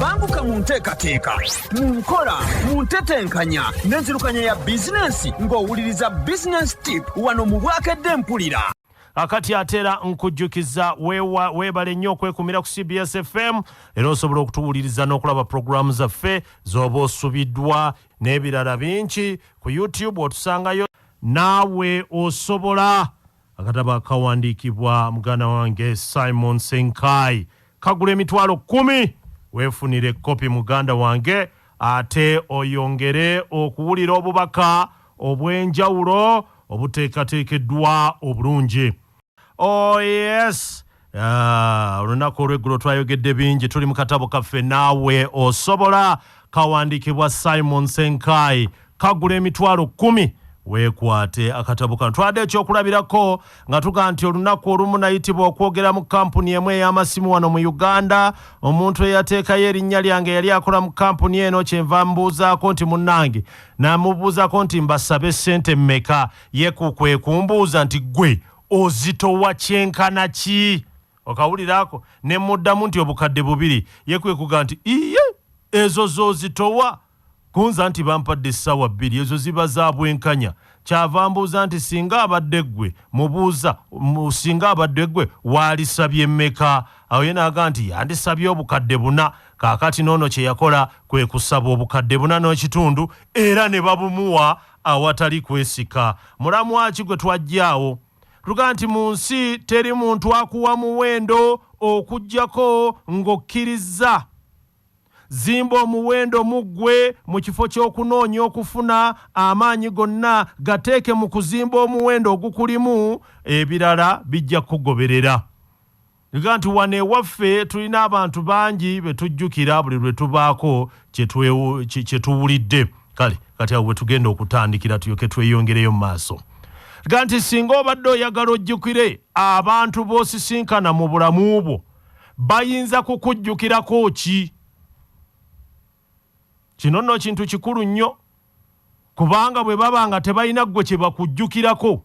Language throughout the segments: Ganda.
banguka mu nteekateeka mu nkola mu ntetenkanya n'enzirukanya ya bizinensi ng'owuliriza bizinensi tip wano mu bwakedde mpulira akati atera nkujjukiza weebale nnyo okwekumira ku cbs fm era osobola okutuwuliriza n'okulaba pulogulaamu zaffe z'oba osubiddwa n'ebirala bingi ku youtube otusangayo naawe osobola Akatabo akawandiikibwa muganda wange Simon Ssenkaayi kagula emitwalo kkumi. Weefunire ekkopi muganda wange ate oyongere okuwulira obubaka obw'enjawulo obuteekateekeddwa obulungi. Oh yes! Ah, olunaku olweggulo twayogedde bingi tuli mu katabo kaffe naawe osobola kawandiikibwa simon senkai kagula emitwalo kumi weekwate akatabo kano twade ekyokulabirako nga tuga nti olunaku olumu nayitibwa okwogera mu kampuni emu ey'amasimu wano mu uganda omuntu eyateekayo erinnya lyange yali akola mu kampuni eno kyenva mbuuzaako nti munnange namubuuzako nti mbasabe ssente mmeka yeku kwe kumbuuza nti ggwe ozitowa kyenkana ki okawulira ako ne muddamu nti obukadde bubiri ye kwe kuga nti iye ezo zozitowa kunza nti bampadde essaawa bbiri ezo ziba za bwenkanya kyava mbuuza nti singa abadde ggwe mubuuza singa abadde ggwe waalisabye mmeka awo ye naaga nti yandisabye obukadde buna kaakati noono kye yakola kwe kusaba obukadde buna n'ekitundu era ne babumuwa Awatali kwesika, mulamwa ki gwe twaggyaawo? Tugaa nti mu nsi teri muntu akuwa muwendo okuggyako ng'okkirizza. Zimba omuwendo mu ggwe mu kifo ky'okunoonya okufuna, amaanyi gonna gateeke mu kuzimba omuwendo ogukulimu, ebirala bijja kukugoberera. Nga nti wano ewaffe tulina abantu bangi be tujjukira buli lwe tubaako kye tuwulidde kale kati awo we tugenda okutandikira tuyoke tweyongereyo mu maaso ga nti singa obadde oyagala ojjukire abantu b'osisinkana mu bulamu bwo bayinza kukujjukirako ki kino nno kintu kikulu nnyo kubanga bwe baba nga tebalina ggwe kye bakujjukirako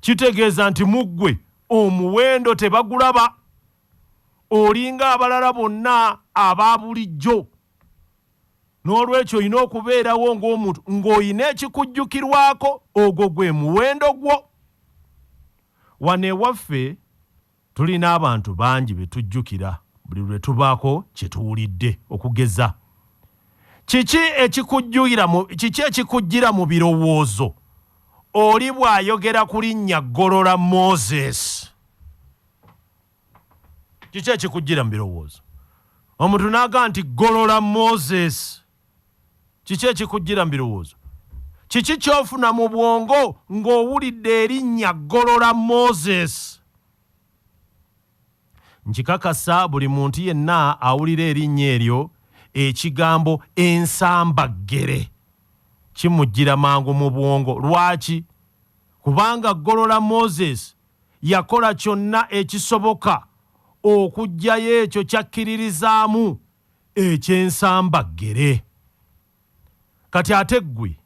kitegeeza nti mu ggwe omuwendo tebagulaba olinga abalala bonna aba bulijjo n'olwekyo olina okubeerawo ng'omuntu ng'olina ekikujjukirwako ogwo gwe muwendo gwo wano ewaffe Tulina abantu bangi be tujjukira buli lwe tubaako kye tuwulidde. Okugeza, kiki ekikujjira mu, kiki ekikujjira mu birowoozo oli bw'ayogera ku linnya Golola Moses? Kiki ekikujjira mu birowoozo omuntu n'aga nti Golola Moses? Kiki ekikujjira mu birowoozo? Kiki ky'ofuna mu bwongo ng'owulidde erinnya Golola Moses? Nkikakasa buli muntu yenna awulira erinnya eryo, ekigambo ensambaggere kimujjira mangu mu bwongo. Lwaki? Kubanga Golola Moses yakola kyonna ekisoboka okuggyayo ekyo ky'akkiririzaamu eky'ensamba ggere. Kati ate ggwe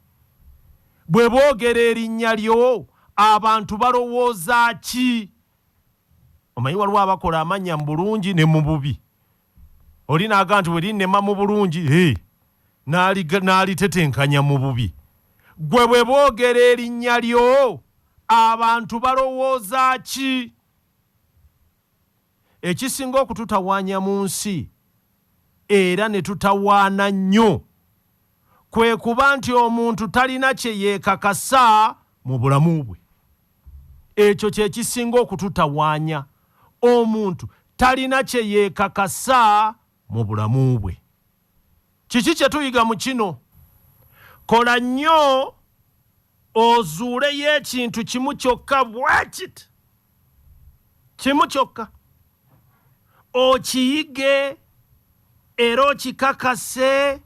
bwe boogera erinnya lyo abantu balowooza ki? Omanyi waliwo abakola amannya mu bulungi ne mu bubi. Oli naaga nti werinnema mu bulungi eh, n'alitetenkanya mu bubi. Ggwe bwe boogera erinnya lyo abantu balowooza ki? Ekisinga okututawaanya mu nsi era ne tutawaana nnyo kwe kuba nti omuntu talina kye yeekakasa mu bulamu bwe. Ekyo kye kisinga okututawaanya. Omuntu talina kye yeekakasa mu bulamu bwe. Kiki kye tuyiga mu kino? Kola nnyo ozuuleyo ekintu kimu kyokka bwekit kimu kyokka okiyige era okikakase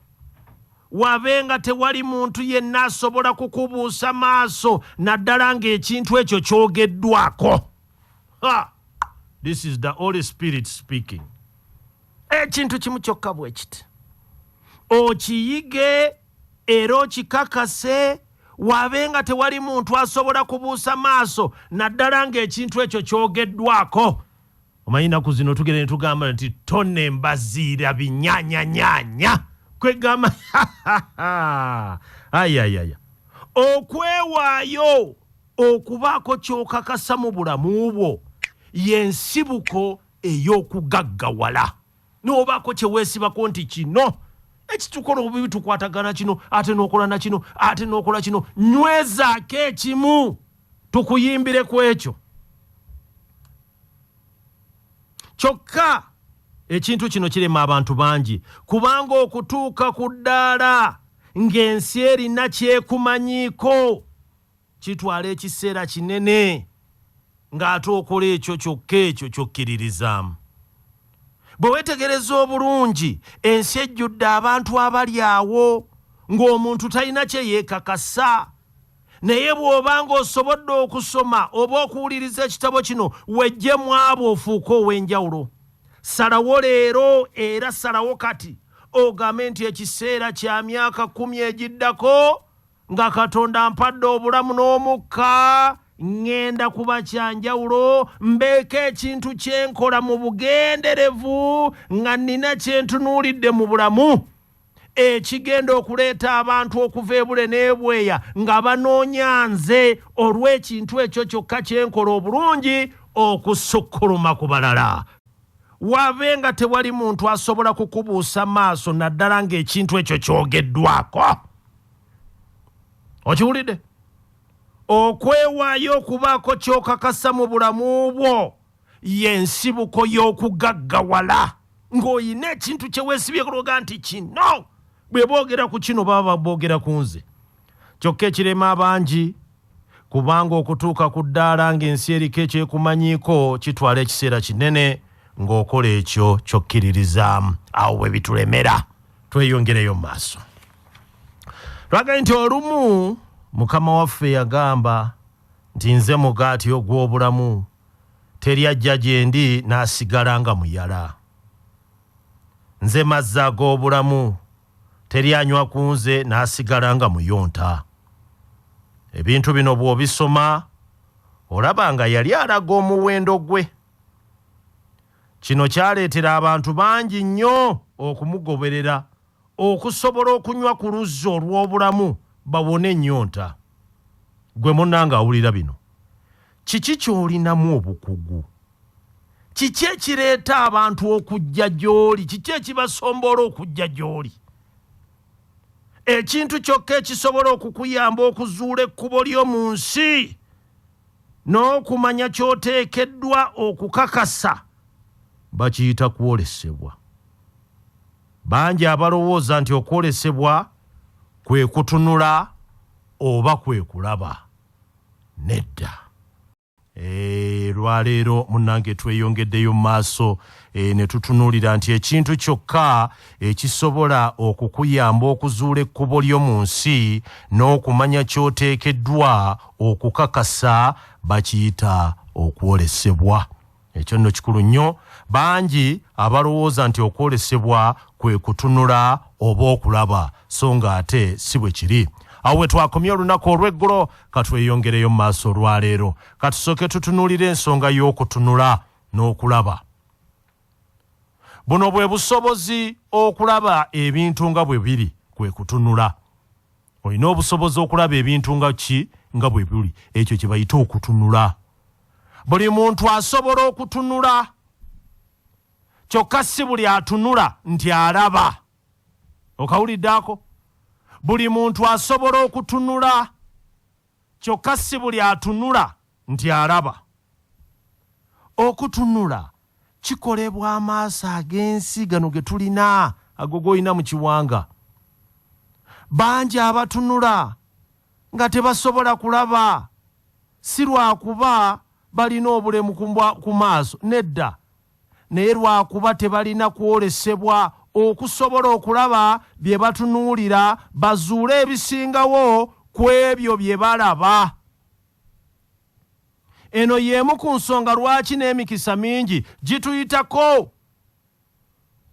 wabe nga tewali muntu yenna asobola kukubuusa maaso naddala ng'ekintu ekyo kyogeddwako this is the holy spirit speaking ekintu kimu kyokka bwe kiti okiyige era okikakase wabe nga tewali muntu asobola kubuusa maaso naddala ng'ekintu ekyo kyogeddwako omanyi naku zino tugere netugamba nti tone mbaziira binyanyanyanya kwegamba ayayaya okwewaayo okubaako kyokakasa mu bulamu bwo yensibuko ey'okugaggawala n'obaako kye weesibako nti kino ekitukola obubi tukwatagana kino ate n'okola na kino ate n'okola kino nywezaako ekimu tukuyimbire ku ekyo kyokka ekintu kino kirema abantu bangi kubanga okutuuka ku ddaala ng'ensi erina kyekumanyiiko Kitwala ekiseera kinene ng'ate okola ekyo kyokka ekyo ky'okkiririzaamu. Bwe weetegereza obulungi, ensi ejjudde abantu abali awo ng'omuntu talina kye yeekakasa. Naye bw'oba ng'osobodde okusoma oba okuwuliriza ekitabo kino, wejje mu abo ofuuke ow'enjawulo. Salawo leero era salawo kati ogambe nti, Ekiseera kya myaka kkumi egiddako nga katonda ampadde obulamu n'omukka ŋŋenda kuba kyanjawulo mbeeko ekintu kye nkola mu bugenderevu nga nnina kye ntunuulidde mu bulamu ekigenda okuleeta abantu okuva ebule n'ebweya nga banoonya nze olw'ekintu ekyo kyokka kye nkola obulungi okusukkuluma ku balala wabe nga tewali muntu asobola kukubuusa maaso naddala ng'ekintu ekyo kyogeddwako okiwulidde okwewaayo okubaako kyokakasa mu bulamu bwo yensibuko y'okugaggawala ng'olina ekintu kyeweesibyekologa nti kino bwe boogera ku kino baba boogera ku nze kyokka ekirema abangi kubanga okutuuka ku ddaala ng'ensi eriko ekyekumanyiiko kitwala ekiseera kinene ng'okola ekyo kyokkiririza awo bwe bitulemera tweyongereyo mu maaso lwagambye nti olumu mukama waffe yagamba nti nze mugaati ogw'obulamu teri ajja gye ndi n'asigala nga muyala nze mazzi ag'obulamu teri anywa ku nze n'asigala nga muyonta. Ebintu bino bw'obisoma olaba nga yali alaga omuwendo gwe. Kino kyaleetera abantu bangi nnyo okumugoberera okusobola okunywa ku luzzi olw'obulamu bawone ennyonta. Gwe munnange awulira bino, Kiki ky'olinamu obukugu? Kiki ekireeta abantu okujja gy'oli? Kiki ekibasomboola okujja gy'oli? Ekintu kyokka ekisobola okukuyamba okuzuula ekkubo lyo mu nsi n'okumanya ky'oteekeddwa okukakasa bakiyita kwolesebwa. Bangi abalowooza nti okwolesebwa kwe kutunula oba kwe kulaba. Nedda. Eeh lwaleero munange tweyongeddeyo maaso e, ne tutunuulira nti ekintu kyokka ekisobola okukuyamba okuzuula ekkubo lyo mu nsi n'okumanya ky'oteekeddwa okukakasa bakiyita okwolesebwa. ekyo nno kikulu nnyo bangi abalowooza nti okwolesebwa kwe kutunula oba okulaba so nga ate si bwe kiri awo we twakomye olunaku olw'eggulo katweyongereyo mu maaso olwaleero katusooke tutunuulire ensonga y'okutunula n'okulaba buno bwe busobozi okulaba ebintu nga bwe biri kwe kutunula olina obusobozi okulaba ebintu nga ki nga bwe buli ekyo kye bayita okutunula buli muntu asobola okutunula kyokka si buli atunula nti alaba okawuliddeako buli muntu asobola okutunula Kyokka si buli atunula nti alaba. Okutunula kikolebwa amaaso ag'ensi gano ge tulina ago g'olina mu kiwanga. Bangi abatunula nga tebasobola kulaba si lwakuba balina obulemu ku maaso, nedda. naye lwakuba tebalina kwolesebwa okusobola okulaba bye batunuulira bazuule ebisingawo ku ebyo bye balaba eno y'emu ku nsonga lwaki n'emikisa mingi gituyitako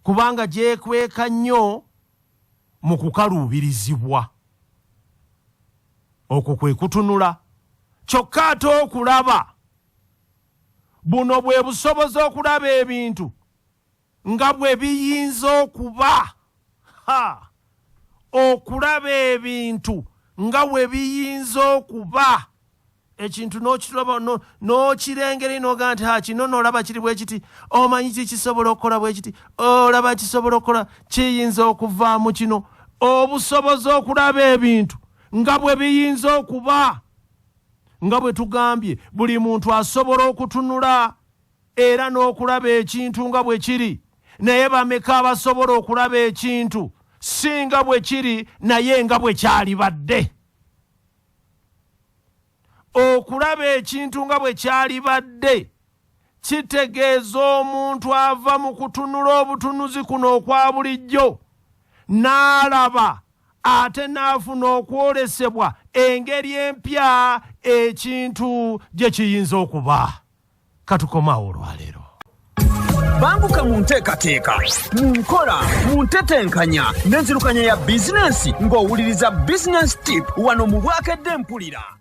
kubanga gyekweka nnyo mu kukaluubirizibwa okwo kwe kutunula kyokka ate okulaba Buno bwe busobozi okulaba ebintu nga bwe biyinza okuba. Ha! Okulaba ebintu nga bwe biyinza okuba. Ekintu n'okiraba n'okirengera ino ogaa nti ha kino n'olaba kiri bwe kiti omanyi ki kisobola okukola bwe kiti olaba kisobola okukola kiyinza okuvaamu kino obusobozi okulaba ebintu nga bwe biyinza okuba. nga bwe tugambye buli muntu asobola okutunula era n'okulaba ekintu nga bwe kiri naye bameka abasobola okulaba ekintu si nga bwe kiri naye nga bwe kyalibadde okulaba ekintu nga bwe kyalibadde kitegeeza omuntu ava mu kutunula obutunuzi kuno okwa bulijjo n'alaba ate n'afuna okwolesebwa engeri empya ekintu gye kiyinza okuba katukomaawo olwaleero banguka mu nteekateeka mu nkola mu ntetenkanya n'enzirukanya ya bizinensi ng'owuliriza bizinensi tip wano mu bwakedde mpulira